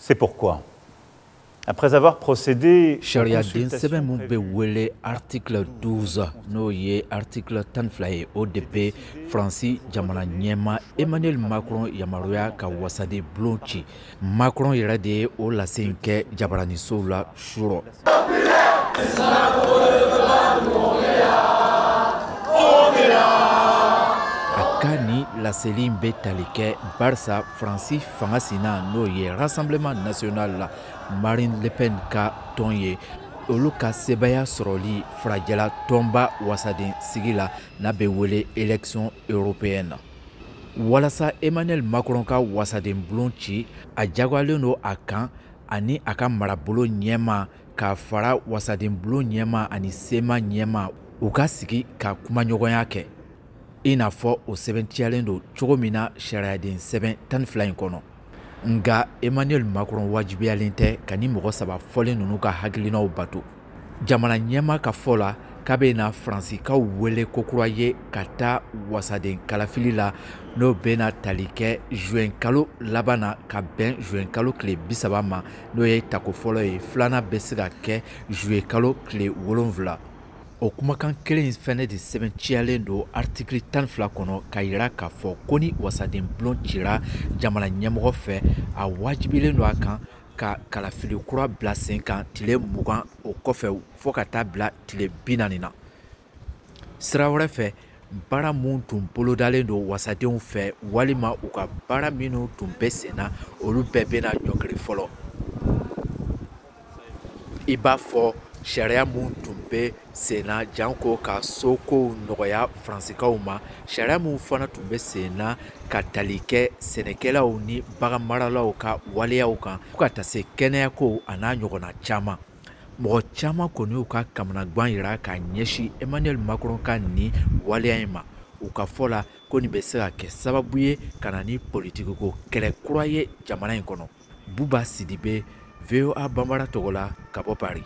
C'est pourquoi Sariyaden sɛbɛn min bɛ wele article 12 n'o ye article tan ni fila ye o de bɛ Faransi jamana ɲɛmaa Emmanuel Macron yamaruya ka wasaden bulon ci Macron yɛrɛ de ye o lase in kɛ jabaranisow la surɔ. laseli in bɛ tali kɛ barisa faransi fanga sina n'o ye rassemblement national la marine le pen ka tɔn ye olu ka sebaaya sɔrɔli farajɛla tɔnba wasaden sigi la n'a bɛ wele élection européenne walasa emmanuel macron ka wasaden bulon ci a jagoyalen don a kan ani a ka marabulon ɲɛmaa k'a fara wasadenbulon ɲɛmaa ani sénat ɲɛmaa u ka sigi ka kumaɲɔgɔnya kɛ i n'a fɔ o sɛbɛntiyalen don cogo min na sariyaden sɛbɛn tan ni fila in kɔnɔ nka emmanuel macron wajibiyalen tɛ ka nin mɔgɔ saba fɔlen ninnu ka hakilinaw bato jamana ɲɛmaa ka fɔ la k'a bɛna faransikaw wele kokura ye ka taa wasaden kalafili la n'o bɛna tali kɛ zuwɛnkalo laban na ka bɛn zuwɛnkalo tile bisaba ma n'o ye tako fɔlɔ ye filanan bɛ se ka kɛ zuyekalo tile wolonfila o kumakan kelen fɛnɛ de sɛbɛntiyalen don aritikili tan ni fila kɔnɔ k'a yira k'a fɔ ko ni wasaden bulon cira jamana ɲɛmɔgɔ fɛ a wajibilen don a kan ka kalafili kura bila sen kan tile mugan o kɔfɛ fo ka taa bila tile binaani na sira wɛrɛ fɛ baara minnu tun bolodalen don wasadenw fɛ walima u ka baara minnu tun bɛ sen na olu bɛɛ bɛna ɲɔngiri fɔlɔ i b'a fɔ sariya minnu tun bɛ sen na janko ka sokow nɔgɔya faransikaw ma sariya minw fana tun bɛ sen na ka tali kɛ sɛnɛkɛlaw ni baganmaralaw ka waleyaw kan fo ka taa se kɛnɛyakow an'a ɲɔgɔnna caman mɔgɔ caman kɔni y'u ka kamanagwan yira ka ɲɛsin emmanuel macron ka nin waleya in ma u ka fɔ la ko nin bɛ se ka kɛ sababu ye ka na ni politikiko kɛlɛ kura ye jamana in kɔnɔ buba sidibe voa banbara tɔgɔ la ka bɔ paris